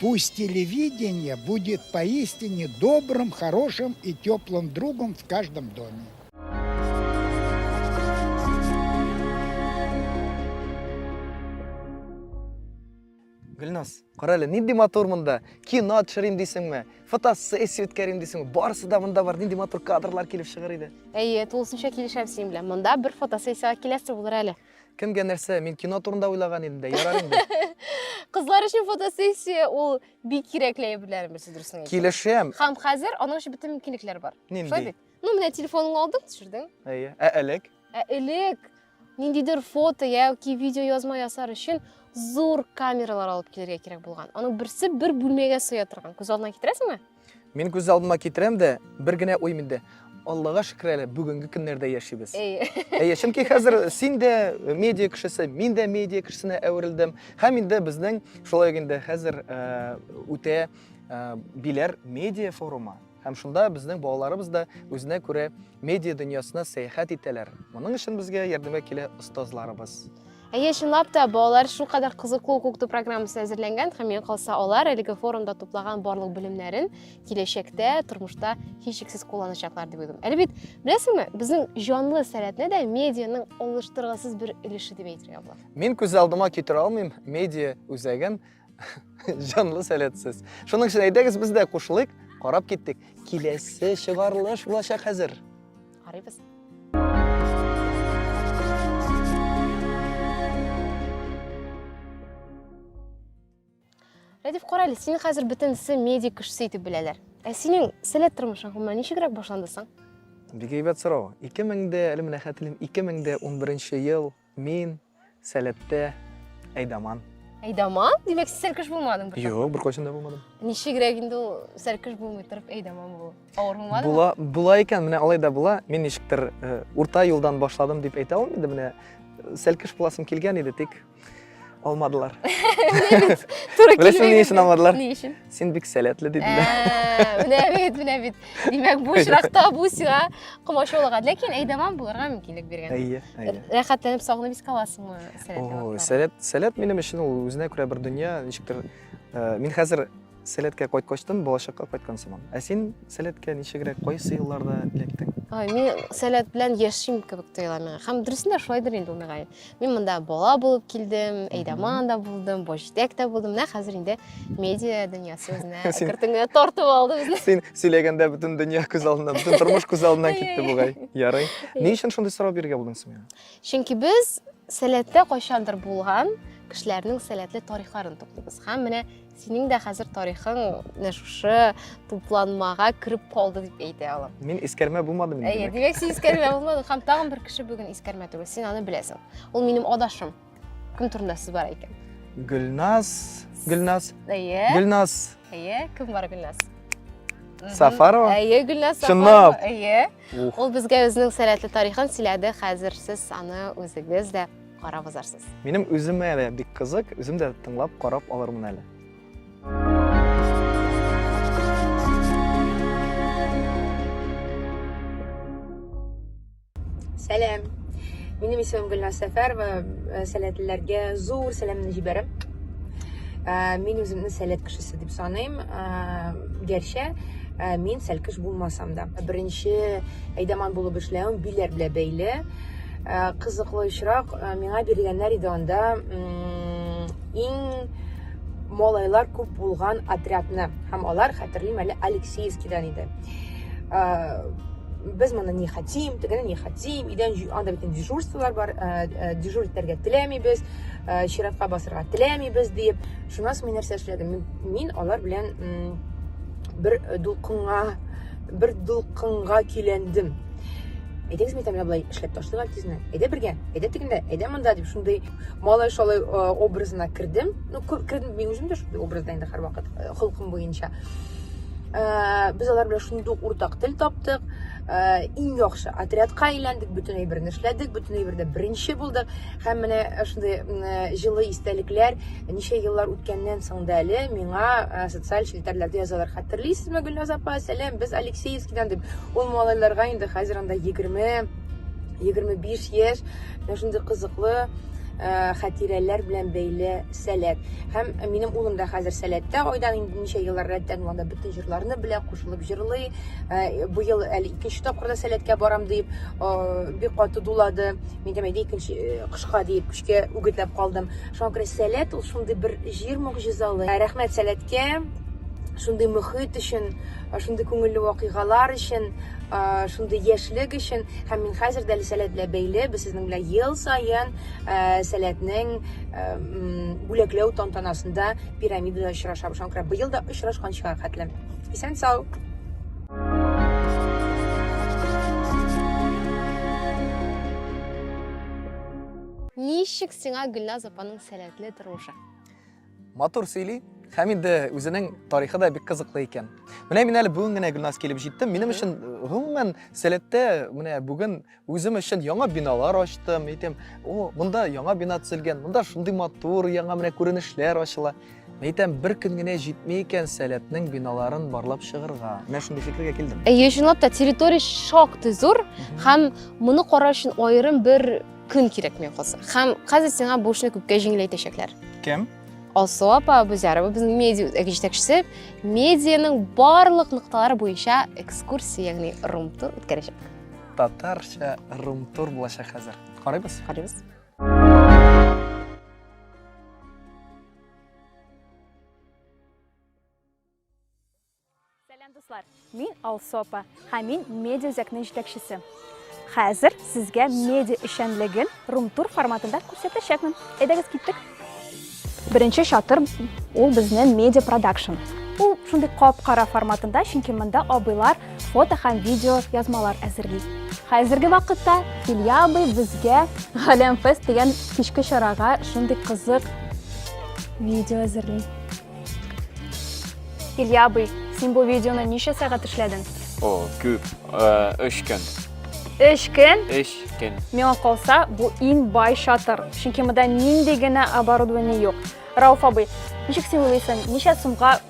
Пусть телевидение будет поистине добрым, хорошим и теплым другом в каждом доме. Гөлназ, кара әле, нинди матур монда. Кино төшерим дисеңме? Фотосессия үткәрим дисеңме? Барысы да монда бар. Нинди матур кадрлар килеп чыгар иде. Әйе, тулысынча килешәм синең белән. Монда бер фотосессиягә киләсе булыр әле. Кемгә нәрсә? Мин кино турында уйлаган идем дә, ярар инде. Кызлар өчен фотосессия ул бик кирәкле әйберләр берсе дөресен әйтсәң. Килешәм. Һәм хәзер аның өчен бөтен мөмкинлекләр бар. Шулай Нинди? бит? Ну, менә телефоныңны алдың, төшердең. Әйе. Ә элек? Ә элек ниндидер фото яки видео язма ясар өчен зур камералар алып килергә кирәк булган. Аның берсе бер бүлмәгә сыя торган. Күз алдына китерәсеңме? Мин күз алдыма китерәм дә, бер генә уй миндә. Аллага шөкер әле, бүгенге көннәрдә яшибез. Әйе. чөнки хәзер син дә медиа кешесе, мин дә медиа кешесенә әверелдем. Һәм инде безнең шулай инде хәзер э, үтә э, биләр медиа форумы. Һәм шунда безнең балаларыбыз да үзенә күрә медиа дөньясына сәяхәт итәләр. Моның өчен безгә ярдәмгә килә остазларыбыз. Әйе, чынлап та, балалар шулкадәр кызыклы укыту программасы әзерләнгән һәм миңа калса алар әлеге форумда туплаган барлык белемнәрен киләчәктә тормышта һичшиксез кулланачаклар дип уйлыйм. Әле бит, беләсеңме, безнең җанлы сәләтне дә медианың алыштыргысыз бер өлеше дип әйтергә була. Мин күз алдыма китерә алмыйм медиа үзәген, Җанлы сәләтсез. Шуның өчен әйдәгез без дә кушылыйк, карап киттек. Киләсе чыгарылыш булачак хәзер. Карыйбыз. Рәдиф, кара әле, сине хәзер бөтенесе медик кешесе итеп беләләр. Ә синең сәләт тормышың гомумән ничегрәк башланды соң? Бик әйбәт сорау. 2000 дә, әле менә хәтерлим, 2011 ел Мин, Сәләттә, Әйдаман. Әйдаман? Димәк, син сәркеш булмадың бер Юк, бер кайчан да булмадым. Ничегрәк инде ул сәркеш булмый торып Әйдаман булу? Авыр булмадымы? Була, була икән, менә алай да була. Мин ничектер э, урта юлдан башладым дип әйтә алмыйм инде менә. Э, сәлкеш буласым килгән иде, тик алмадылар. Туры Беләсең, ни өчен алмадылар? Ни өчен? Син бик сәләтле диделәр. Ә, Менә бит, менә бит. Димәк, бу очракта бу сиңа комачаулыга. Ләкин әйдәман булырга мөмкинлек биргән. Әйе, әйе. Рәхәтләнеп сагынып искә аласыңмы сәләтле Ой, вакытларны? сәләт, сәләт минем өчен ул үзенә күрә бер дөнья, ничектер. э, Мин хәзер сәләткә кайткачтан балачакка кайткан сыман. Ә син сәләткә ничегрәк кайсы елларда эләктең? Ай, мин сәләт белән яшим кебек тоела миңа. Һәм дөресен дә шулайдыр инде ул миңа. Мин монда бала булып килдем, Эйдаман да булдым, Бочтек та булдым. Менә хәзер инде медиа дөньясы үзенә кертенгә тартып алды безне. Син сөйләгәндә бөтен дөнья күз алдына, бөтен тормыш күз алдына китте бугай. Ярый. Ни өчен шундый сорау бирергә булдың син миңа? Чөнки без сәләттә кайчандыр булган кешеләрнең сәләтле тарихларын туплыйбыз. Һәм менә Синең дә хәзер тарихың менә шушы тупланмага кереп калды дип әйтә алам. Мин искәрмә булмадым инде. Әйе, димәк син искәрмә булмадың һәм тагын бер кеше бүген искәрмә түгел. Син аны беләсең. Ул минем адашым. Кем турында сүз бара икән? Гөлназ, Гөлназ. Әйе. Гөлназ. Әйе, кем бар Гөлназ? Сафарова? Әйе, Гөлназ Сафарова. Чынлап. Әйе. Ул безгә үзенең сәләтле тарихын сөйләде. Хәзер сез аны үзегез дә карап узарсыз. Минем үземә әле бик кызык, үзем дә тыңлап карап алырмын әле. Сәлам. Минем исемем Гөлназ Сәфәрова. Э, сәләтлеләргә зур сәламне җибәрәм. Э, мин үземне сәләт кешесе дип саныйм. Э, гәрчә мин сәлкеш булмасам да. Беренче әйдаман булып эшләвем биләр белән бәйле. Ә, кызыклы очрак, ә, миңа биргәннәр иде анда иң малайлар күп булган отрядны. Һәм алар, хәтерлим әле, Алексеевскидан иде. Ә, без моны не хотим, тегене не хотим, идән анда бит дежурстволар бар, ә, ә, дежур итәргә теләмибез, ә, чиратка басырга теләмибез дип. Шуннан соң мин нәрсә эшләдем? Мин, мин алар белән бер дулкынга бер дулкынга көйләндем әйдәгез мин тәмләп былай эшләп ташлыйк әле тизенә әйдә бергә әйдә тегендә әйдә монда дип шундый малай шалай образына кердем ну кердем мин үзем дә шундый образда инде һәрвакыт холкым буенча без алар белән шундый ук уртак тел таптык иң яхшы отрядка әйләндек бөтен әйберне эшләдек бөтен әйбердә беренче булдык Һәм менә шундый җылы истәлекләр ничә еллар үткәннән соң да әле миңа социаль челтәрләрдә язалар. Хәтерлисезме, Гөлназ апа, сәлам, без Алексеевскидан дип. Ул малайларга инде хәзер анда 20, 25 яшь. Менә шундый кызыклы хәтирәләр белән бәйле сәләт. Һәм минем улым да хәзер сәләттә, айдан инде ничә еллар рәттән ул анда бөтен җырларны белә, кушылып җырлый. Быел әле икенче тапкыр да сәләткә барам дип, бик каты дулады. Мин дә әйдә икенче э, кышка диеп көчкә үгетләп калдым. Шуңа күрә сәләт ул шундый бер җир мөгъҗизалы. Ә, рәхмәт сәләткә, шундый мөхит өчен, э, шундый күңелле вакыйгалар өчен, э, шундый яшьлек өчен. Һәм мин хәзер дә әле сәләт белән бәйле, без сезнең белән ел саен сәләтнең бүләкләү тантанасында пирамидада очрашабыз. Шуңа күрә быел да очрашканчыга хәтле. Исән сау! Ничек сиңа Гөлназ апаның сәләтле тормышы? Матур сөйли. Һәм инде үзенең тарихы да бик кызыклы икән. Менә мин әле бүген генә Гөлназ килеп җиттем. Минем өчен гомумән сәләттә менә бүген Үзем өчен яңа биналар ачтым, әйтәм, о, монда яңа бина төзелгән, монда шундый матур, яңа менә күренешләр ачыла. Әйтәм, бер көн генә җитми икән сәләтнең биналарын барлап чыгырга. Менә шундый фикергә килдем. Әйе, чынлап та территория шактый зур һәм моны карау өчен аерым бер көн кирәк миңа калса. Һәм хәзер сиңа бу эшне күпкә җиңеләйтәчәкләр. Кем? Алсу апа Бузярова безнең медиа үзәге җитәкчесе медианың барлык нокталары буенча экскурсия, ягъни румтур үткәрәчәк. Татарча румтур булачак хәзер. Карыйбыз? Карыйбыз. Сәлам дуслар. Мин Алсопа, һәм мин медиа үзәкнең җитәкчесе. Хәзер сезгә медиа эшчәнлеген румтур форматында күрсәтәчәкмен. Әйдәгез киттек. Беренче чатыр ул безнең медиа продакшн. Ул шундый кап-кара форматында, чөнки монда абыйлар фото һәм видео язмалар әзерли. Хәзерге вакытта Илья абый безгә Галәм фест дигән кичке чарага шундый кызык видео әзерли. Илья абый, син бу видеоны ничә сәгать эшләдең? О, күп. Өч көн. Өч көн? Өч көн. Миңа калса, бу иң бай шатыр. Чөнки монда нинди генә оборудование юк. Рауф абый, ничек син уйлыйсың, ничә сумга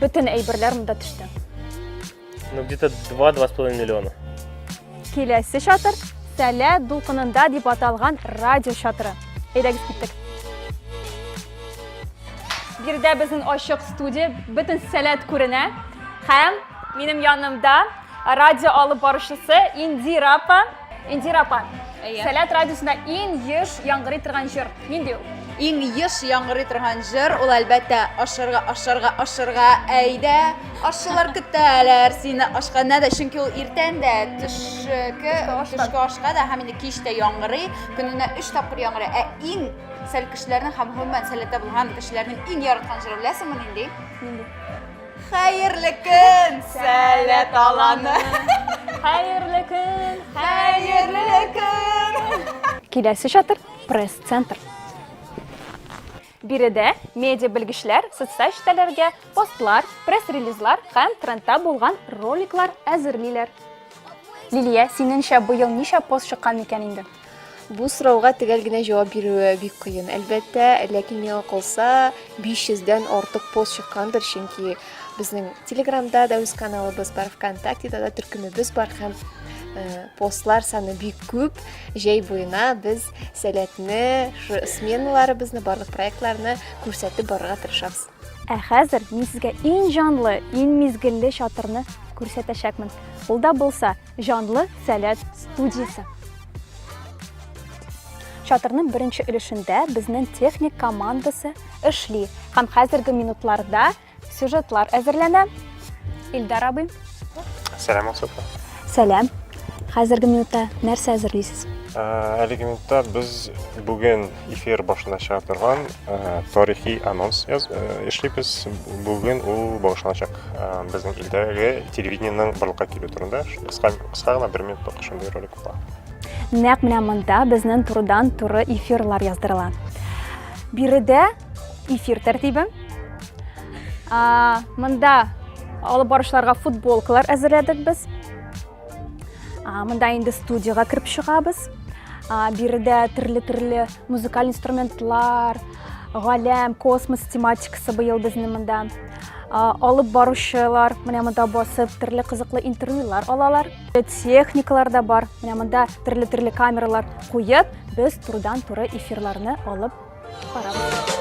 бөтен әйберләр монда төште? Ну, где-то 2-2,5 миллиона. Киләсе чатыр Сәлә дулкынында дип аталган радио чатыры. Әйдәгез киттек. Бирдә безнең ачык студия, бөтен сәләт күренә. Һәм минем янымда радио алып баручысы Индира апа. Индира апа, Әйе. Сәләт радиосында иң еш яңгырый торган җыр. Нинди ул? Иң еш яңгырый торган җыр ул әлбәттә ашырга, ашырга, ашырга, әйдә. Ашчылар көтәләр сине ашканда да, чөнки ул иртән дә, төшке, төшке ашка да һәм инде кич тә яңгырый. Көненә 3 тапкыр яңгырый. Ә иң сәл кешеләрнең һәм гомумән сәләттә булган кешеләрнең иң яраткан җыры беләсеңме нинди? Нинди? Хәерле көн, сәләт аланы. Хәерле көн, хәерле көн. Киләсе чатыр пресс-центр. Биредә медиа белгечләр социаль челтәрләргә постлар, пресс-релизлар һәм трендта булган роликлар әзерлиләр. Лилия, синеңчә, быел ничә пост чыккан микән инде? Бу сорауга төгәл генә җавап бирүе бик кыен, әлбәттә, ләкин миңа калса 500-дән артык пост чыккандыр, чөнки безнең Телеграмда да үз каналыбыз бар, ВКонтактеда да төркемебез бар һәм э, постлар саны бик күп. Җәй буена без сәләтне, сменаларыбызны, барлык проектларны күрсәтеп барырга тырышабыз. Ә хәзер мин сезгә иң җанлы, иң мизгелле чатырны күрсәтәчәкмен. Ул да булса, Җанлы сәләт студиясе. Чатырның беренче өлешендә безнең техник командасы эшли һәм хәзерге минутларда сюжетлар әзерләнә. Илдар абый. Сәлам, Асылфа. Сәлам. Хәзерге минутта нәрсә әзерлисез? Әлеге минутта без бүген эфир башланачак торган э, тарихи анонс яз, э, эшлибез. Бүген ул багышланачак э, безнең илдәге телевидениенең барлыкка килү турында. Кыска кыска гына бер минутлык шундый ролик була. Нәкъ менә монда безнең турыдан туры эфирлар яздырыла. Биредә эфир тәртибе. Монда алып барышларга футболкалар әзерләдек без. мында инде студияга кереп чыгабыз биредә төрле төрле музыкаль инструментлар галәм космос тематикасы быел безнең монда алып баручылар менә монда басып төрле кызыклы интервьюлар алалар техникалар да бар менә монда төрле төрле камералар куеп без турыдан туры эфирларны алып барабыз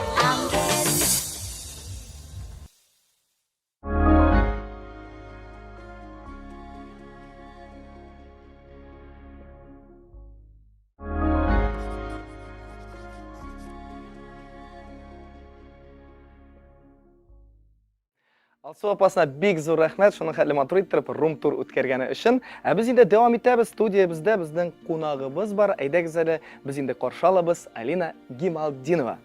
Алсу апасына бик зур рәхмәт, шуның хәтле матур иттереп рум тур үткәргәне өчен. Ә без инде дәвам итәбез, студиябездә безнең кунагыбыз бар. Әйдәгез әле, без инде каршы алабыз Алина Гималдинова.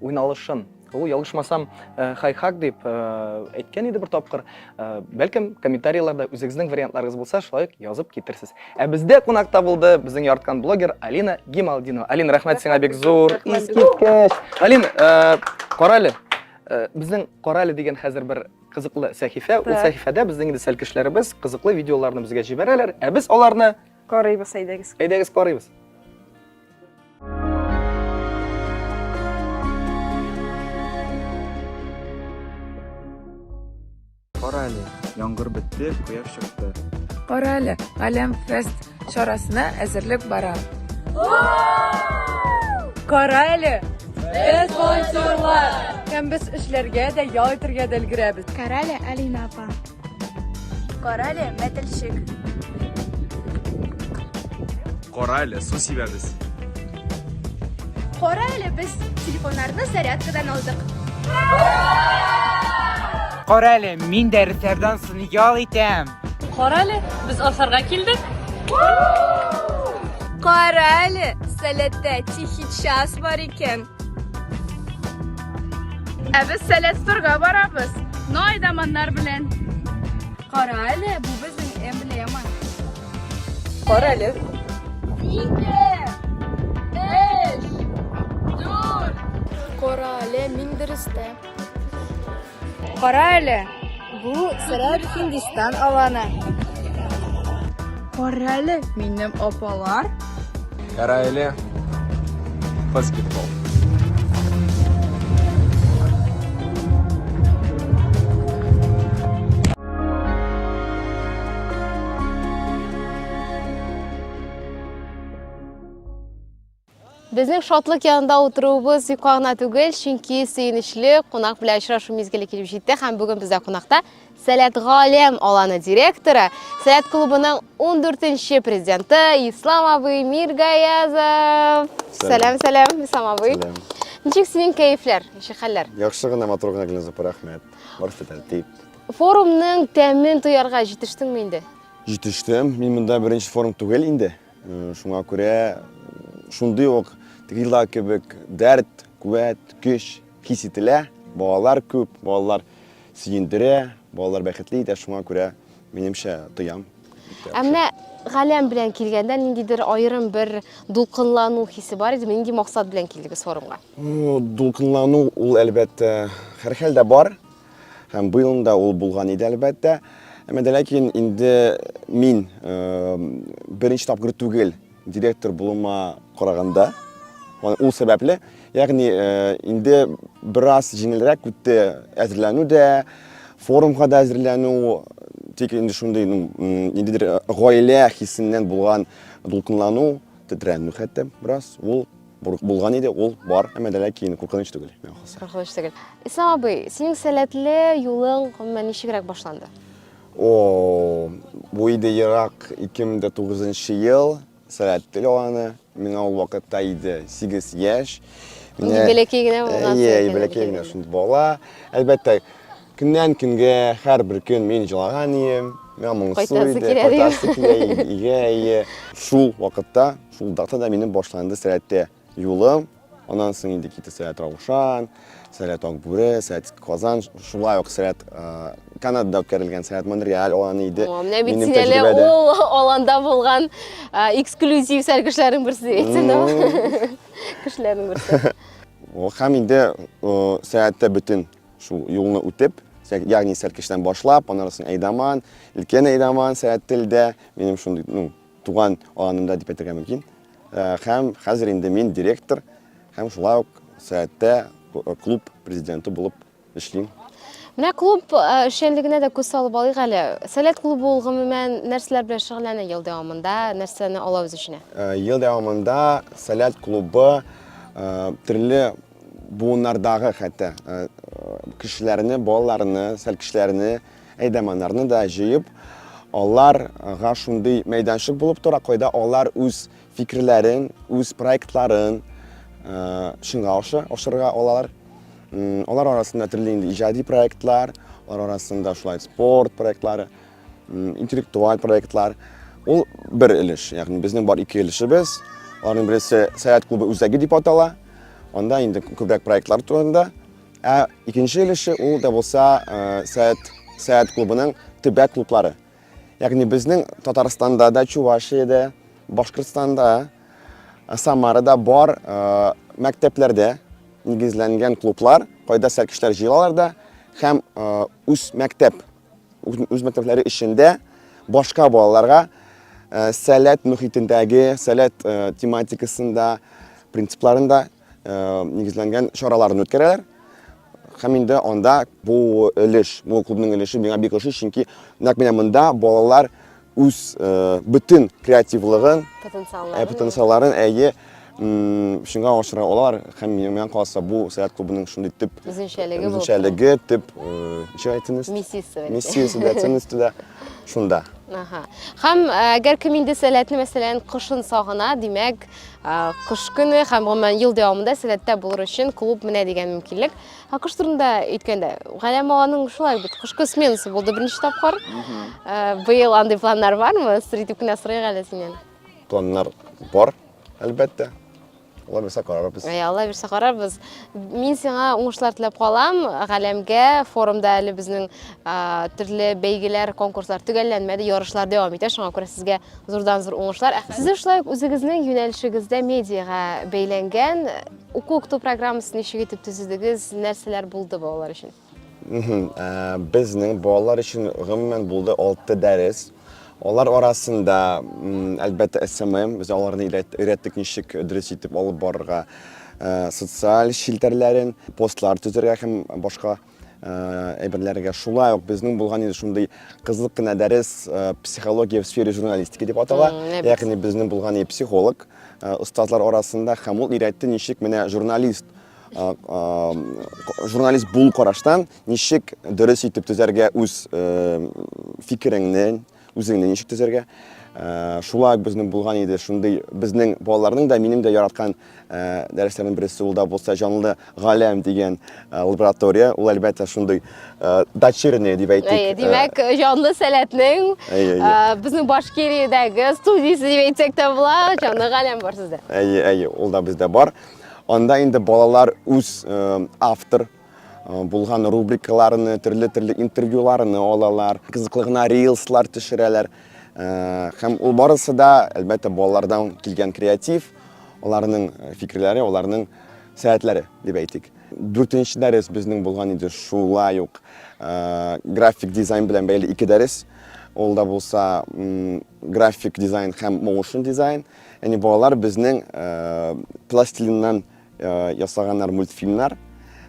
уйналышын. Ул, ялгышмасам, хай-хак дип әйткән иде бер тапкыр. Бәлкем, комментарийларда үзегезнең вариантларыгыз булса, шулай ук язып китерсез. Ә бездә кунакта булды безнең ярткан блогер Алина Гималдинова. Алина, рәхмәт сиңа бик зур. Искиткеч. Алин, карале. Безнең карале дигән хәзер бер кызыклы сәхифә. Ул сәхифәдә безнең инде сәлкешләребез кызыклы видеоларны безгә җибәрәләр, ә без аларны Карыйбыз, әйдәгез. Әйдәгез карыйбыз. Кара әле, яңгыр бетте, кояш чыкты. Кара әле, Галәм фест чарасына әзерлек бара. Кара әле! Без волонтерлар! Һәм без эшләргә дә, ял итәргә дә өлгерәбез. Кара әле, Алина апа. Карале, мәтелчек. Карале, су сибәбез. Карале, без телефоннарны зарядкадан алдык. Карале, мин дә ритәрдан сон ял итәм. Карале, без асарга килдек. Карале, сәләттә тихий час бар икән. Ә без Сәләсторга барабыз. Най даманнар белән. Кара әле, бу безнең эмблема. Кара әле. Ике, өч, дүрт. Кара әле, мин дөрестә. Кара әле, бу сырат Һиндистан аланы. Кара әле, минем апалар. Кара әле, баскетбол. Безнең шатлык янында утыруыбыз юкка гына түгел, чөнки сөенечле кунак белән очрашу мизгеле килеп җитте һәм бүген бездә кунакта Сәләт Галәм аланы директоры, Сәләт клубының 14-нче президенты Ислам абый Миргаязов. Сәлам, сәлам, Ислам абый. Сәлам. Ничек синең кәефләр, ничек хәлләр? Яхшы гына, матур гына Гөлназ апа, рәхмәт. Барысы тәртип. Форумның тәмен тоярга җитештеңме инде? Җитештем. Мин монда беренче форум түгел инде. Шуңа күрә шундый ук Гилла кебек дәрт, куәт, көч хис ителә. Балалар күп, балалар сөендерә, балалар бәхетле итә, шуңа күрә минемчә тоям. Ә менә галәм белән килгәндә ниндидер аерым бер дулкынлану хисе бар идеме? Нинди максат белән килдегез форумга? Дулкынлану ул әлбәттә һәрхәлдә бар. Һәм быелны да ул булган иде, әлбәттә. Әмма дә ләкин инде мин беренче тапкыр түгел директор булуыма караганда, ул сәбәпле, ягъни инде бераз җиңелрәк үтте әзерләнү дә, форумга да әзерләнү, тик инде шундый ниндидер гаилә хисеннән булган дулкынлану, тетрәнү хәтта бераз, ул Булган иде, ул бар, әмма дә ләкин куркыныч түгел, миңа калса. Куркыныч түгел. Ислам абый, синең сәләтле юлың гомумән ничегрәк башланды? О, бу иде ерак 2009 ел, сәләтле аны, миңа ул вакытта иде 8 яшь. Инде бәләкәй генә булган. Иә, бәләкәй генә шундый бала. Әлбәттә, Көннән-көнгә һәрбер көн мин җылаган идем, миңа моңсу иде, кайтасы килә иде, игә ие. Шул вакытта, шул датада минем башланды сәләттә юлым. Аннан соң инде китте сәләт Раушан, сәләт Акбүре, сәләт Казан, шулай ук сәләт Канадада үткәрелгән сәләт Монреаль аланы иде. Менә бит син әле ул аланда булган эксклюзив сәл кешеләрнең берсе әйтсәң. Кешеләрнең берсе. Һәм инде сәләттә бөтен Шул юлны үтеп, ягъни Сәркештән башлап, аннан соң Әйдаман, Өлкән Әйдаман, Сәяттелдә, минем шундый, ну, туган аланымда дип әйтергә мөмкин. Э, һәм хәзер инде мин директор һәм шулай ук Сәяттә э, клуб президенты булып эшлим. Менә клуб э, эшчәнлегенә дә күз салып алыйк әле. Сәләт клубы ул гомумән нәрсәләр белән шөгыльләнә ел дәвамында, нәрсәне ала үз эченә? Ел дәвамында Сәләт клубы төрле Буыннардагы хәтта кешеләрне, балаларны, сәл кешеләрне, әйдәманнарны да җыеп, аларга шундый мәйданчык булып тора, кайда алар үз фикерләрен, үз проектларын чынга аша, ашырга алалар. Алар арасында төрле инде иҗади проектлар, алар арасында шулай спорт проектлары, интеллектуаль проектлар. Ул бер өлеш, ягъни безнең бар ике өлешебез. Аларның берсе Сәяхәт клубы үзәге дип атала. Анда инде күбрәк проектлар турында. Ә икенче өлеше ул да булса Сәяхәт Сәяхәт клубының төбәк клублары. Ягъни безнең Татарстанда да, Чувашиядә, Башкортстанда, Самарада бар мәктәпләрдә нигезләнгән клублар, кайда сәкешләр җыялар да һәм үз мәктәп үз мәктәпләре эчендә башка балаларга сәләт мөхитендәге, сәләт тематикасында, принципларында нигезләнгән чараларын үткәрәләр. Һәм инде анда бу өлеш, бу клубның өлеше миңа бик ошый, чөнки нәкъ менә монда балалар үз бөтен креативлыгын, потенциалларын әйе шуңа ашыра алар һәм минем калса бу сәяхәт клубының шундый төп үзенчәлеге үзенчәлеге төп ничек әйтсенез миссиясе миссиясе дә ценности дә шунда Ага. Хәм әгәр кем инде сәләтне мәсәлән кышын сагына, димәк, кыш көне һәм гомумән ел дәвамында сәләттә булыр өчен клуб менә дигән мөмкинлек. Ә кыш турында әйткәндә, Галәм аганың шулай бит кышкы сменасы булды беренче тапкыр. Э, Быел андый планнар бармы? Сыр итеп кенә сорыйк әле синнән. Планнар бар, әлбәттә. Алла бирсә карарбыз. Әй, Алла бирсә карарбыз. Мин сиңа уңышлар теләп калам. Галәмгә форумда әле безнең а, төрле бәйгеләр, конкурслар төгәлләнмәде, ярышлар дәвам итә. Шуңа күрә сезгә зурдан-зур уңышлар. Ә Сезнең шулай ук үзегезнең юнәлешегездә медиага бәйләнгән Уку укыту программасын ничек итеп төзедегез, нәрсәләр булды балалар өчен? Ә, Безнең балалар өчен гомумән булды 6 дәрес. Алар арасында, әлбәттә, СММ, без аларны өйрәттек ничек дөрес итеп алып барырга, ә, социаль челтәрләрен, постлар төзергә һәм башка. әйберләргә. Шулай ук безнең булган инде шундый кызык кына дәрес психология в сфере журналистики дип атала. Ягъни безнең булган и психолог остазлар арасында һәм ул өйрәтте ничек менә журналист журналист бул караштан ничек дөрес итеп төзәргә үз фикереңне, үзеңне ничек төзәргә. Э, шулай ук безнең булган иде шундый безнең балаларның да минем дә яраткан э, дәресләрнең берсе ул да булса җанлы галәм дигән э, лаборатория ул әлбәттә шундый дочерняя дип әйтик димәк җанлы сәләтнең безнең башкириядәге студиясе дип әйтсәк тә була җанлы галәм бар сездә әйе әйе ул да бездә бар анда инде балалар үз автор Булган рубрикаларны, төрле-төрле интервьюларны алалар, кызыклы гына рилслар төшерәләр. Һәм ул барысы да, әлбәттә, балалардан килгән креатив, аларның фикерләре, аларның сәятләре, дип әйтик. Дүртенче дәрес безнең булган иде шулай ук график дизайн белән бәйле ике дәрес. Ул да булса график дизайн һәм моушен дизайн. Яни балалар безнең пластилиннан ясаганнар мультфильмнар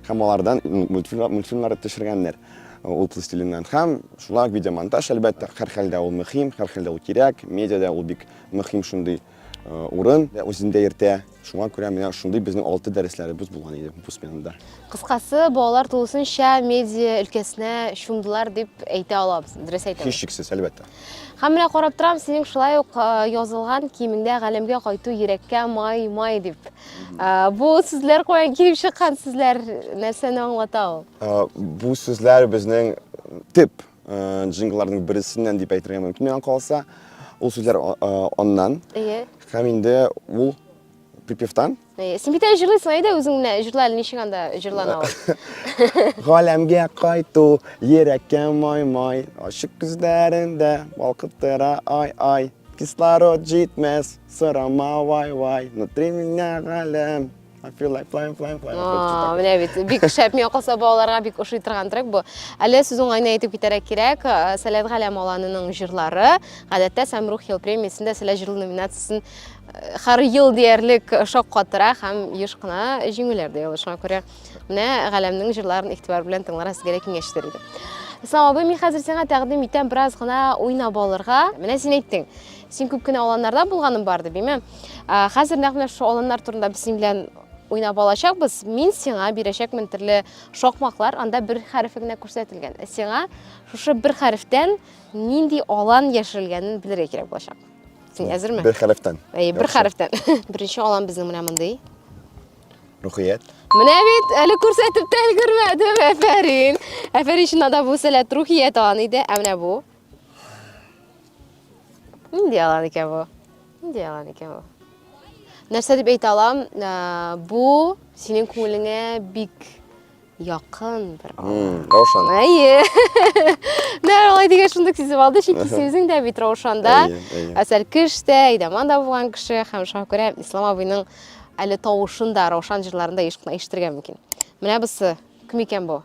һәм алардан мультфильмнар төшергәннәр ул пластилиннан һәм шулай видеомонтаж әлбәттә һәр хәлдә ул мөһим һәр хәлдә ул кирәк медиада ул бик мөһим шундый урын үзендә йөртә шуңа күрә менә шундый безнең алты дәресләребез булган иде бу сменада кыскасы балалар тулысынча медиа өлкәсенә чумдылар дип әйтә алабыз дөрес әйтәм һичшиксез әлбәттә Һәм менә карап торам, синең шулай ук язылган киемеңдә галәмгә кайту йөрәккә май май дип. Бу сүзләр каян килеп чыккан сүзләр, нәрсәне аңлата ул? Бу сүзләр безнең тип джингларның берсеннән дип әйтергә мөмкин миңа калса. Ул сүзләр аннан. Һәм инде ул припевтан Э, син бит әле җырлыйсың әйдә үзең менә җырла әле ничек анда җырлана ул галәмгә кайту йөрәккә май май ачык күзләрендә балкып тора ай ай кислород җитмәс сорама вай вай внутри меня галәм I feel like flying, flying, flying. А, менә бит бик шәп миңа калса балаларга бик ошый торган трек бу. Әле сүз уңайына әйтеп китәргә кирәк, э, Сәләт Галәм аланының җырлары гадәттә Самрух ел премиясендә Сәләт җырлы номинациясен Хәр ел диярлек шаккатыра һәм еш кына җиңүләр дә яулый. Шуңа күрә менә Галәмнең җырларын игътибар белән тыңларга сезгә дә киңәш итәр идем. Ислам абый, мин хәзер сиңа тәкъдим итәм бераз гына уйнап алырга. Менә син әйттең, син күп кенә аланнарда булганың бар дип, әйме? Хәзер нәкъ менә шул аланнар турында без синең белән уйнап алачакбыз. Мин сиңа бирәчәкмен төрле шакмаклар, анда бер хәрефе генә күрсәтелгән. Сиңа шушы бер хәрефтән нинди алан яшерелгәнен белергә кирәк булачак. Син әзерме? Бер хәрефтән. Әй, бер хәрефтән. Беренче алам безнең менә мондый. Рухият. Менә бит әле күрсәтеп тә өлгермәдем. Әфәрин. Әфәрин чыннан да бу сәләт рухият алан иде. Ә менә бу. Нинди алан икән бу? Нинди алан икән бу? Нәрсә дип әйтә алам? Ә, Бу синең күңелеңә бик Якын бер алар. Раушан. Әйе. Нәр алай дигән шундук сизеп алды, чөнки исемезең дә бит Раушанда. Әсәр кеш тә, Идаман да булган кеше һәм шуңа күрә Ислам абыйның әле тавышын да Раушан җырларында еш кына ишетергә мөмкин. Менә бусы кем икән бу?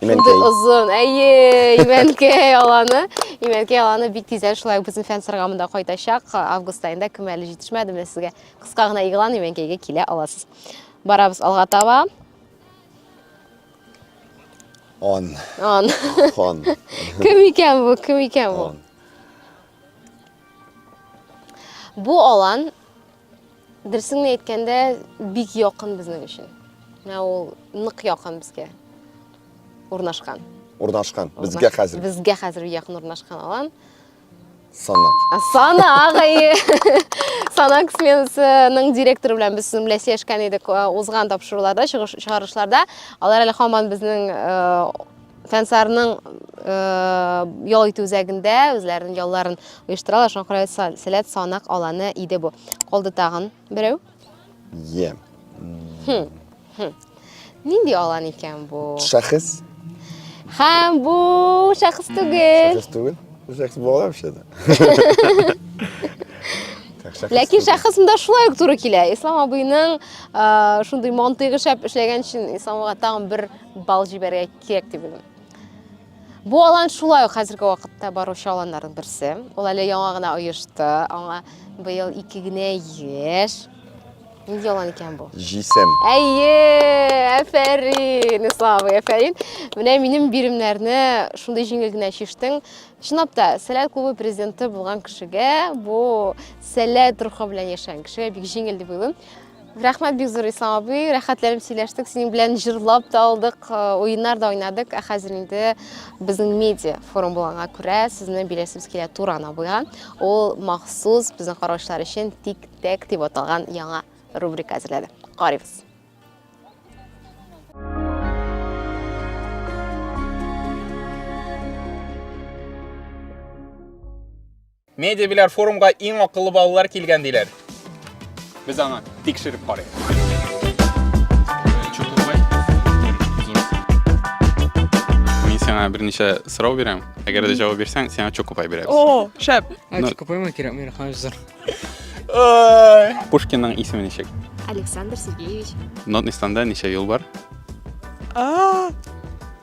Имәнкәй. Озын, әйе, Имәнкәй аланы. Имәнкәй аланы бик тиздән шулай безнең фән сыргамында кайтачак. Август айында кем әле җитешмәде, менә сезгә кыска гына игълан Имәнкәйгә килә аласыз. Барабыз алга таба. Он. Он. Он. Кем икән бу? Кем икән бу? Он. Бу алан дөресен генә әйткәндә бик якын безнең өчен. Менә ул нык якын безгә урнашкан. Урнашкан. Безгә хәзер. Безгә хәзер якын урнашкан алан. Санак. Санак, әйе. Санак сменасының директоры белән без сезнең белән сөйләшкән идек э, узган тапшыруларда, чыгарышларда. Алар әле хаман безнең э, фәнсарның э, ял итү үзәгендә үзләренең ялларын оештыралар. Шуңа күрә сәләт санак аланы иде бу. Калды тагын. Берәү? Йә. Нинди алан икән бу? Шәхес. Һәм бу шәхес түгел. Шәхес түгел. Шәхес була вообще-то. Ләкин шәхесендә шулай ук туры килә. Ислам абыйның шундый мантыйгы шәп эшләгән өчен Исламга тагын бер бал җибәрергә кирәк дип уйлыйм. Бу алан шулай ук хәзерге вакытта баручы аланнарның берсе. Ул әле яңа гына оешты. Аңа быел ике генә яшь. Нинди алан икән бу? Җисем. Әйе, әфәрин, Ислам, әфәрин. Менә минем биремнәрне шундый җиңел генә чиштең. Чынлап та, Сәләт клубы президенты булган кешегә, бу сәләт рухы белән яшәгән кешегә бик җиңел дип уйлыйм. Рәхмәт бик зур Ислам абый, рәхәтләнеп сөйләштек, синең белән җырлап та алдык, э, уеннар да уйнадык, ә хәзер инде безнең медиа форум булганга күрә сезне биләсебез килә Туран абыйга. Ул махсус безнең караучылар өчен тик-тәк дип аталган яңа рубрика әзерләде. Карыйбыз. Медиа Беляр форумга иң акыллы балалар килгән диләр. Без аңа тикшереп карыйк. сиңа берничә сорау бирәм. Әгәр дә җавап бирсәң, сиңа чокупай бирәбез. О, шәп. Ә чокупаймы кирәк миңа хәзер? Пушкинның исеме ничек? Александр Сергеевич. Нотнистанда ничә юл бар? А!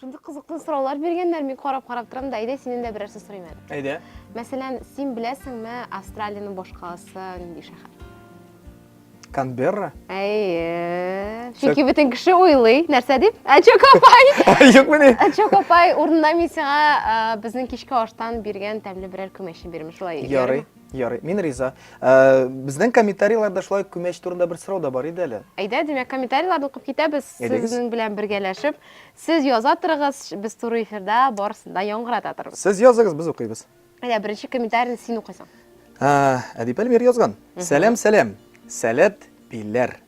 Шундый кызыклы сораулар биргәннәр, мин карап-карап торам да, әйдә синен дә берәр сүз сорыйм әле. Әйдә. Мәсәлән, син беләсеңме Австралиянең башкаласы нинди шәһәр? Канберра? Әйе. Чөнки бөтен кеше уйлый, нәрсә дип? Ә Чокопай. Юк менә. Ә Чокопай урынына мин сиңа безнең кичке аштан биргән тәмле берәр күмәчне бирәм, шулай. Ярый. Ярый, мин риза. Ә, безнең комментарийларда шулай күмәч турында бер сорау да бар иде әле. Әйдә, димәк, комментарийларны укып китәбез, сезнең белән бергәләшеп. Сез яза торыгыз, без туры эфирда барысын да яңгырата торбыз. Сез языгыз, без укыйбыз. Әйдә, беренче комментарийны син укыйсың. Әдип Әлмир язган. Сәлам, сәлам. Сәләт пиләр.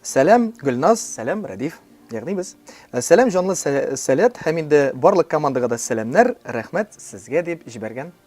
Сәлам Гөлназ, сәлам Рәдиф. Ягъни без. Э, сәлам җанлы сәләт һәм инде барлык командага да сәламнәр, рәхмәт сезгә дип җибәргән.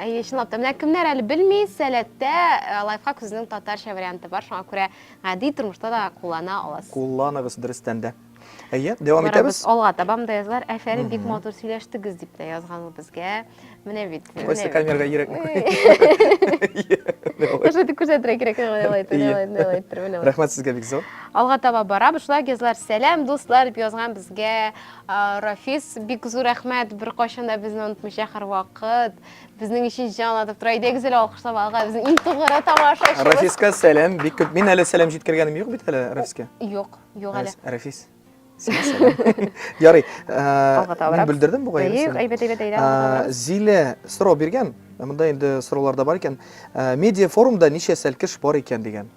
Әйе, чынлап та. Менә кемнәр әле белми, сәләттә э, лайфхак сүзенең татарча варианты бар, шуңа күрә гади тормышта да куллана аласыз. Кулланыгыз дөрестән дә. Әйе, дәвам Барабыз итәбез. алга табам да язлар. Әфәрин, бик матур сөйләштегез дип тә язган ул безгә. Менә бит. менә Кайсы бит. камерага йөрәкне Уже дип күрсәтергә кирәк, менә алай итте, менә алай итте, менә алай итте, менә алай. Рәхмәт сезгә бик зур. Алга таба барабыз. Шулай ук язлар, сәлам, дуслар, дип язган безгә Рафис, бик зур рәхмәт, беркайчан да безне онытмыйча һәрвакыт. Безнең өчен җан атып тора. Әйдәгез әле алкышлап алга. Безнең иң тугры тамашачыбыз. Рафиска сәлам, бик күп. Мин әле сәлам җиткергәнем юк бит әле Рафиска. Юк, юк әле. Рафис. Ярый. Мин бүлдердем бугай. Әйбәт, әйбәт, әйдә. Зилә сорау биргән. Монда инде сораулар да бар икән. Медиа форумда ничә сәлкеш бар икән дигән.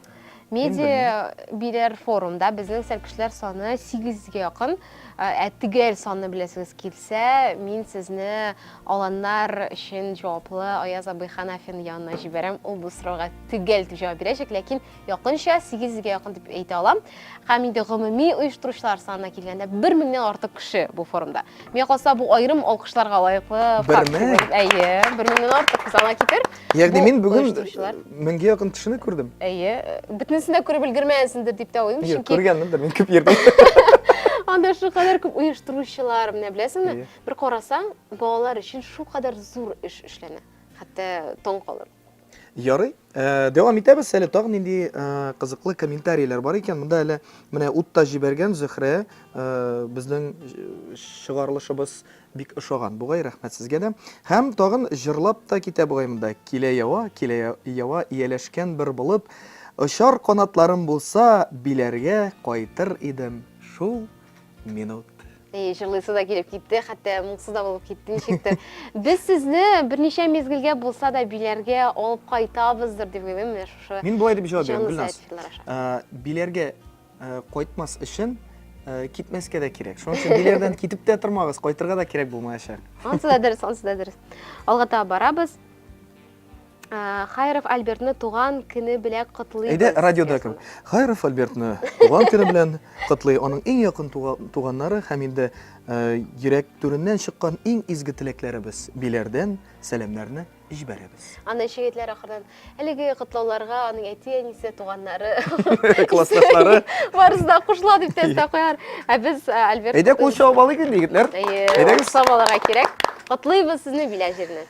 Медиа бирәр форумда безнең сәл кешеләр саны 800-гә якын. Ә төгәл санны беләсегез килсә, мин сезне аланнар өчен җаваплы Аяз абый Ханафин янына җибәрәм. Ул бу сорауга төгәл дип җавап бирәчәк, ләкин якынча 800-гә якын дип әйтә алам. Һәм инде гомуми оештыручылар санына килгәндә, бер меңнән артык кеше бу форумда. Миңа калса, бу аерым алкышларга лаеклы факт. Бер мең? Әйе, бер меңнән артык сана китер. Ягъни мин бүген меңгә якын кешене күрдем. Әйе, бөтенесен дә күреп өлгермәгәнсеңдер дип тә уйлыйм, чөнки... Күргәнмендер, мин күп йөрдем. Анда шу кадәр күп оештыручылар, менә беләсеңме? Бер карасаң, балалар өчен шу кадәр зур эш эшләнә. Хәтта таң калыр. Ярый. Э, дәвам итәбез әле тагын нинди э, кызыклы комментарийлар бар икән. Монда әле менә утта җибәргән Зөһрә э, безнең чыгарылышыбыз бик ошаган. Бугай рәхмәт сезгә дә. Һәм тагын җырлап та китә бугай монда. Килә ява, килә ява ияләшкән бер булып, очар канатларым булса, биләргә кайтыр идем. Шул минут. Эй, җырлыйсы да килеп китте, хәтта моңсыз да булып китте ничектер. Без сезне берничә мезгелгә булса да биләргә алып кайтабыздыр дип уйлыйм менә шушы. Мин болай дип җавап бирәм, Гөлназ. Ә, биләргә ә, кайтмас өчен ә, китмәскә дә кирәк. Шуның өчен биләрдән китеп тә тормагыз, кайтырга да кирәк булмаячак. Ансы да дөрес, ансы да дөрес. Алга таба барабыз. Хайров Альбертны туган көне белән котлыйбыз. Әйдә, радиода кем? Хайров Альбертны туган көне белән котлый. Аның иң якын туганнары һәм инде йөрәк түреннән чыккан иң изге теләкләребез. Биләрдән сәламнәрне җибәрәбез. Аны шигетләр ахырдан әлеге котлауларга аның әти-әнисе, туганнары, классташлары барысы да кушыла дип тә куяр. Ә без Альберт Әйдә кул чабып алыйк инде, егетләр. Әйдәгез. Чабаларга кирәк. Котлыйбыз сезне Билә җиреннән.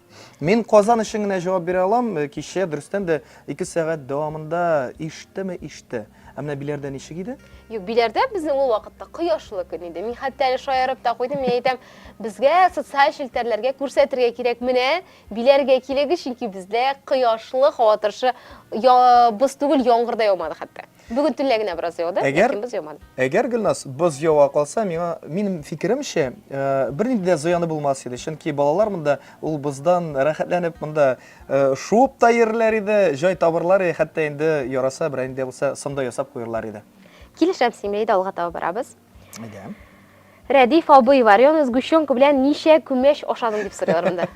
Мин Казан өчен генә җавап бирә алам. Э, кичә дөрестән дә 2 сәгать дәвамында иштеме иште. Ә менә Биләрдә ничек иде? Юк, Биләрдә безнең ул вакытта кояшлы көн иде. Мин хәтта әле шаярып та куйдым. Мин әйтәм, безгә социаль челтәрләргә күрсәтергә кирәк. Менә Биләргә килегез, чөнки бездә кояшлы, һава торышы боз түгел, яңгыр да яумады хәтта. Бүген төнлә генә бераз яуды, әгәр, ләкин боз яумады. Әгәр, Гөлназ, боз ява калса, миңа, минем фикеремчә, э, бернинди дә зыяны булмас иде. Чөнки балалар монда ул боздан рәхәтләнеп монда э, шуып та йөрерләр иде, җай табырлар иде, хәтта инде яраса берәй инде булса сында ясап куерлар иде. Килешәм синең белән, алга таба барабыз. Әйдә. Рәдиф абый, варёный сгущенка белән ничә күмәч ашадың дип сорыйлар монда.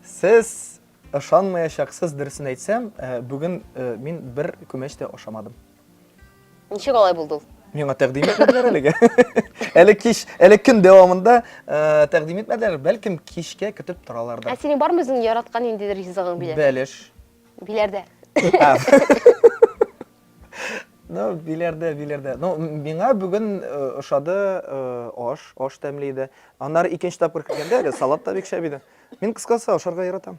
Сез Ышанмаячаксыз, дөресен әйтсәм, бүген мин бер күмәч тә ашамадым. Ничек алай булды ул? Миңа тәкъдим итмәделәр әлегә. Әле кич, әле көн дәвамында тәкъдим итмәделәр, бәлкем кичкә көтеп торалардыр. Ә синең бармы үзең яраткан инде ризыгың биләр? Бәлеш. Биләрдә. Ну, биләрдә, биләрдә. Ну, миңа бүген ошады аш, аш тәмле иде. Аннары икенче тапкыр кергәндә әле салат та бик шәп иде. Мин кыскасы ашарга яратам.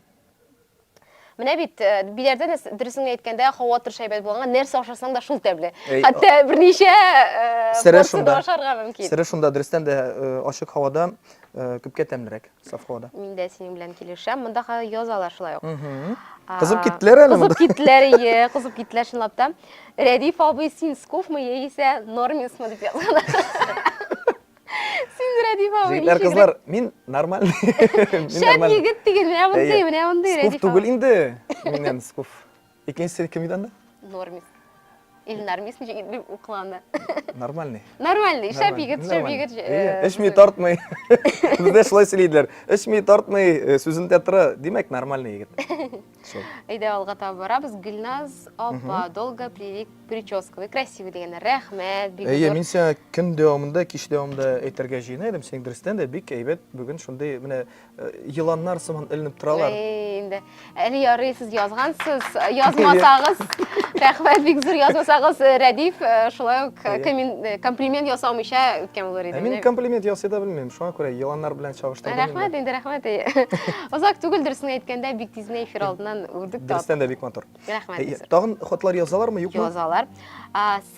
Менә бит э, биләрдә дөресен әйткәндә һава торыш әйбәт булганга нәрсә ашасаң да шул тәмле. Хәтта берничә э, порцияда ашарга мөмкин. Сире шунда дөрестән дә э, ачык һавада күпкә тәмлерәк, саф һавада. Мин дә синең белән килешәм. Монда хәзер язалар шулай ук. Кызып киттеләр әле монда. Кызып киттеләр, ие, кызып киттеләр чынлап та. Рәдиф абый, син скуфмы яисә нормисмы дип язган. Синдерә ди бабы. Җегетләр, кызлар, мин нормаль. Шәп егет диген, менә мондый, менә мондый. Скуф түгел инде. Миннән скуф. Икенчесе кем иде анда? Нормис. Или нормис ничек инде укыланы. Нормальный. Нормальный, шәп егет, шәп егет. Эчми тартмый. Бездә шулай сөйләйдиләр. Эчми тартмый, сүзендә тора. Димәк, нормальный егет. Әйдә алга таба барабыз. Гөлназ апа, долго плели прическу. Вы красивый дигәннәр. Рәхмәт, бик Әйе, мин сиңа көн дәвамында, кич дәвамында әйтергә җыена идем. Синең дөрестән дә бик әйбәт бүген шундый менә э, еланнар сыман эленеп торалар. Әй, инде. Әле ярый сез язгансыз, язмасагыз. Рәхмәт, бик зур язмасагыз, э, Рәдиф э, шулай ук комплимент ясамыйча үткән булыр иде. Мин комплимент ясый да белмим, шуңа күрә еланнар белән чагыштырдым. Рәхмәт, инде рәхмәт. Озак түгел дөресен әйткәндә бик тиз генә эфир алдыннан үрдек тап. Дөрестән дә бик матур. Рәхмәт. Э, тагын хатлар язалармы, юкмы? Язалар.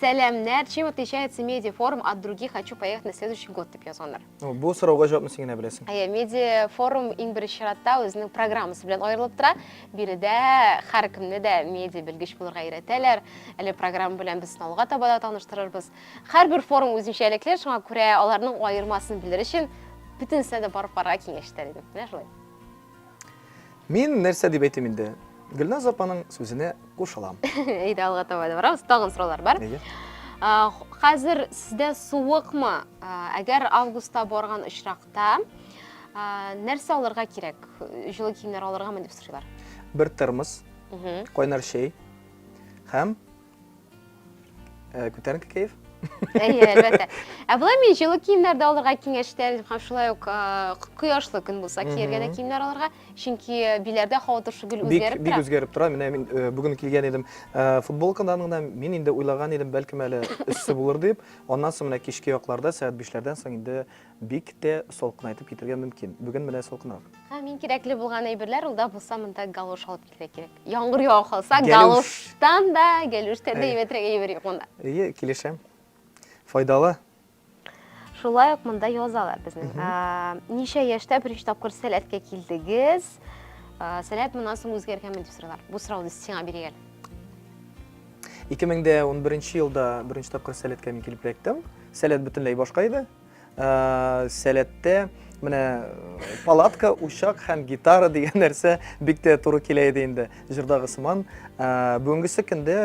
Сәламнәр, чем отличается медиафорум от других, хочу поехать на следующий год дип язганнар. Бу сорауга җавапны син генә беләсең. Әйе, медиафорум иң беренче чиратта үзенең программасы белән аерылып тора. Биредә һәркемне дә медиа белгеч булырга өйрәтәләр. Әле программа белән без сыналуга таба да таныштырырбыз. Һәрбер форум үзенчәлекле, шуңа күрә аларның аермасын белер өчен бөтенесенә дә барып карарга киңәш итәр идем. Менә шулай. Мин нәрсә дип әйтим инде? Гөлназ апаның сүзенә кушылам. Әйдә, алга таба да барабыз. Тагын сораулар бар. Әйе. Хәзер сездә суыкмы? Әгәр августта барган очракта нәрсә алырга кирәк? Җылы киемнәр алыргамы дип сорыйлар. Бер термос, кайнар чәй һәм Ә, күтәренке кәеф? Әйе, әлбәттә. Ә болай мин җылы киемнәр дә алырга киңәш итәм һәм шулай ук кояшлы көн булса кияргә дә киемнәр алырга, чөнки биләрдә һава торышы гел үзгәреп тора. Бик үзгәреп тора. Менә мин бүген килгән идем футболкадан гына, мин инде уйлаган идем, бәлкем әле эссе булыр дип. Аннан соң менә кичке якларда, сәгать 5-ләрдән соң инде Бик тә салкынайтып китергә мөмкин. Бүген менә салкынрак. Һәм иң кирәкле булган әйберләр, ул да булса монда галош алып килергә кирәк. Яңгыр ява калса, галоштан да, гәлүштән дә әйбәтрәк әйбер юк монда. Әйе, килешәм. Файдалы. Шулай ук монда язалар безнең. Ничә яшьтә беренче тапкыр сәләткә килдегез? Сәләт моннан соң үзгәргәнме дип сорыйлар. Бу сорауны сиңа бирик әле. 2011 елда беренче тапкыр сәләткә мин килеп эләктем. Сәләт бөтенләй башка иде. Ә, сәләттә менә палатка, учак һәм гитара дигән нәрсә бик тә туры килә иде инде җырдагы сыман. Ә, бүгенгесе көндә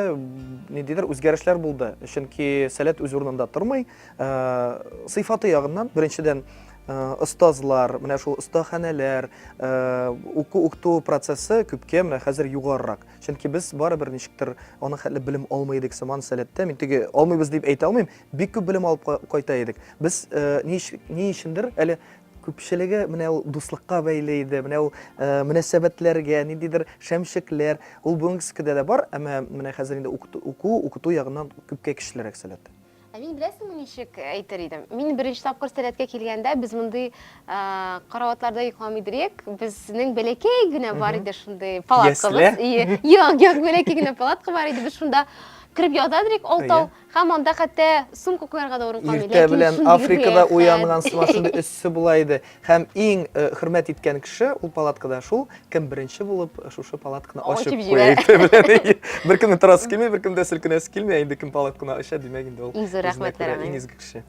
ниндидер үзгәрешләр булды, чөнки сәләт үз урынында тормый. Ә, сыйфаты ягыннан, беренчедән, Э, остазлар, менә шул остаханәләр, э, уку укту процессы күпкә менә хәзер югарырак. Чөнки без барыбер ничектер аның хәтле белем алмый идек сыман сәләттә. Мин теге алмыйбыз дип әйтә алмыйм. Бик күп белем алып кайта идек. Без ни өчендер әле күпчелеге менә ул дуслыкка бәйле иде, менә ул мөнәсәбәтләргә, ниндидер шәмчекләр, ул бүгенгескедә дә бар, әмма менә хәзер инде уку, укыту ягыннан күпкә көчлерәк сәләт. Ә мин беләсеңме ничек әйтер идем? Мин беренче тапкыр сәләткә килгәндә, без мондый караватларда йокламый иде идек. Безнең бәләкәй генә бар иде шундый палаткабыз. Ясле? Юк, юк, бәләкәй генә палатка бар иде. Без шунда кереп ята идек, алтау. Әйе. Һәм анда хәтта сумка куярга да урын калмый. Иртә белән Африкада уянган сыман шундый өссе була иде. Һәм иң э, хөрмәт иткән кеше ул палаткада шул, кем беренче булып э, шушы палатканы ачып куя иртә белән. Беркемнең торасы килми, беркемдә селкенәсе килми, ә инде кем палатканы ача, димәк инде ул. Иң зур рәхмәтләр аңа. Иң изге кеше.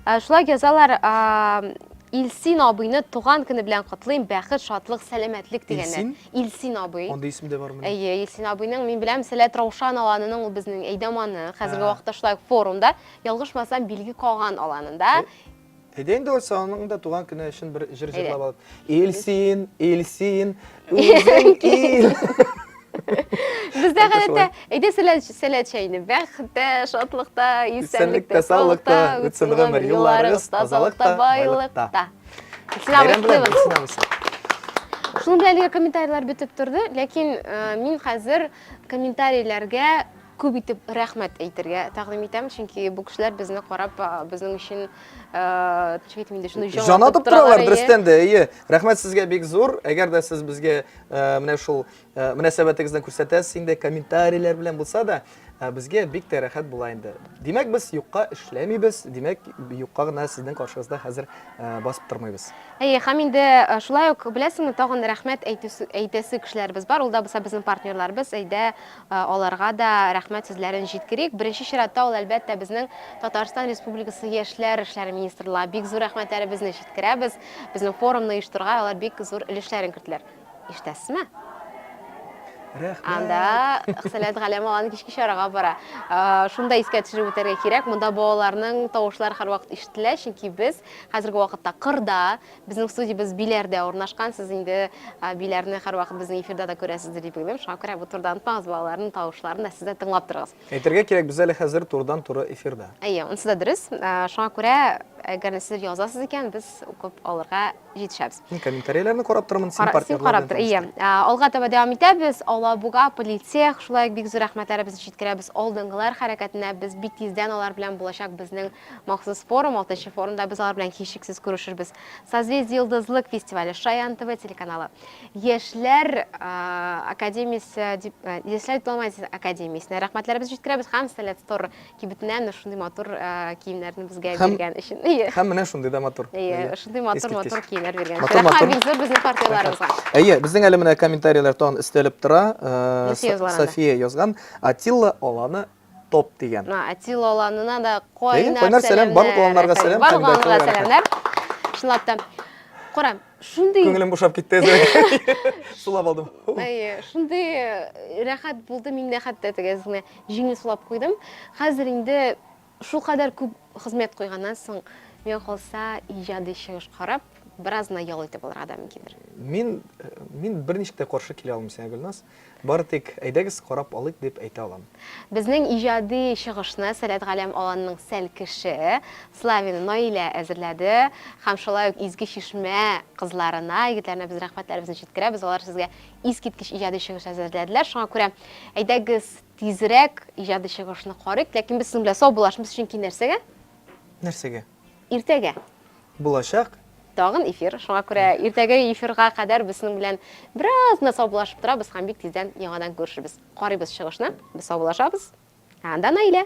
Ә, шулай язалар, Илсин абыйны туган көне белән котлыйм, бәхет, шатлык, сәламәтлек дигәннәр. Илсин? Илсин абый. Андый исем дә бармыни? Әйе, Илсин абыйның, мин беләм, Сәләт Раушан аланының, ул безнең Әйдаманы, хәзерге вакытта шулай ук форумда, ялгышмасам, Билге Каган аланында. Әйдә инде алса, аның да туган көне өчен бер җыр җырлап алып. Илсин, Илсин, үзең ил. Бездә гадәттә, әйдә сәләт чәйне, бәхеттә, шатлыкта, исәнлектә, саулыкта үтсен гомер юлларыгыз, тазалыкта, байлыкта. Сина Бәйрәм белән, Вәсилева. Сина Вәсилева. Шуның белән әлеге комментарийлар бетеп торды, ләкин э, мин хәзер комментарийләргә күп итеп рәхмәт әйтергә тәкъдим итәм, чөнки бу кешеләр безне карап, э, безнең өчен э, төшкә әйтмим инде, шуны Җан атып торалар, дөрестән дә, әйе. Рәхмәт сезгә бик зур. Әгәр дә сез безгә э, менә шул Э, мөнәсәбәтегезне күрсәтәсез инде комментарийләр белән булса да э, безгә бик тә рәхәт була инде димәк без юкка эшләмибез димәк юкка гына сезнең каршыгызда хәзер э, басып тормыйбыз әйе һәм инде шулай ук беләсеңме тагын рәхмәт әйтәсе кешеләребез бар ул да булса безнең партнерларыбыз әйдә аларга да рәхмәт сүзләрен җиткерик беренче чиратта ул әлбәттә безнең татарстан республикасы яшьләр эшләре министрлыгы бик зур рәхмәтләребезне җиткерәбез безнең форумны оештырырга алар бик зур өлешләрен керттеләр Ишетәсезме? Рәхмәт. Анда Хсәләт Галәм алан кичке чарага бара. Шунда искә төшереп үтәргә кирәк. Монда балаларның тавышлары һәрвакыт ишетелә, чөнки без хәзерге вакытта кырда, безнең студиябез Биләрдә урнашкан. Сез инде Биләрне һәрвакыт безнең эфирда да күрәсездер дип уйлыйм. Шуңа күрә бу турыда онытмагыз, балаларның тавышларын да сез дә тыңлап торыгыз. Әйтергә кирәк, без әле хәзер турыдан-туры эфирда. Әйе, унысы да дөрес. Шуңа күрә, әгәр дә сез язасыз икән, без укып алырга җитешәбез. Мин комментарийларны карап торырмын, син партнерлар белән танышты. Син карап тор, әйе. Алга таба дәвам итәбез. Алабуга, Политех, шулай ук бик зур рәхмәтләребезне җиткерәбез алдынгылар хәрәкәтенә. Без бик тиздән алар белән булачак безнең махсус форум, алтынчы форумда без алар белән һичшиксез күрешербез. Созвездие Йолдызлык фестивале, Шаян ТВ телеканалы, Яшьләр академиясе, Яшьләр дипломатиясе академиясенә рәхмәтләребез җиткерәбез һәм Сәләт Стор кибетенә менә шундый матур киемнәрне безгә биргән өчен. Һәм менә шундый да матур. Әйе, шундый матур-матур киемнәр биргән өчен. Рәхмәт бик зур безнең партнерларыбызга. Әйе, безнең әле менә комментарийлар тагын өстәлеп тора. София язган. Атилла Аланы топ дигән. Мә, әти лаланына да кайнар сәлам. Барлык лаланнарга сәлам. Барлык лаланнарга сәламнәр. Чынлап та. Кара, шундый... Күңелем бушап китте әзер. Сулап алдым. Әйе, шундый э, рәхәт булды, мин дә хәтта теге әзгенә җиңел сулап куйдым. Хәзер инде шул кадәр күп хезмәт куйганнан соң, миңа калса, иҗади чыгыш карап, бераз гына ял итеп алырга да мөмкиндер. Мин, э, мин берничек тә каршы килә алмыйм сиңа, Гөлназ. Бары тик, әйдәгез, карап алыйк, дип әйтә алам. Безнең иҗади чыгышны Сәләтгаләм Аланның Сәл кеше, Славина Наилә әзерләде. Һәм шулай ук Изге Чишмә кызларына, егетләренә без рәхмәтләребезне җиткерәбез. Алар сезгә искиткеч иҗади чыгыш әзерләделәр. Шуңа күрә, әйдәгез, тизрәк иҗади чыгышны карыйк. Ләкин без сезнең белән саубуллашмс, чөнки нәрсәгә? Нәрсәгә? Иртәгә. Булачак. Тагын эфир, шуңа күрә иртәгә эфирга кадәр без синең белән бераз гына саубулашып торабыз һәм бик тиздән яңадан күрешербез. Карыйбыз чыгышны, без саубулашабыз. Ә анда Наилә.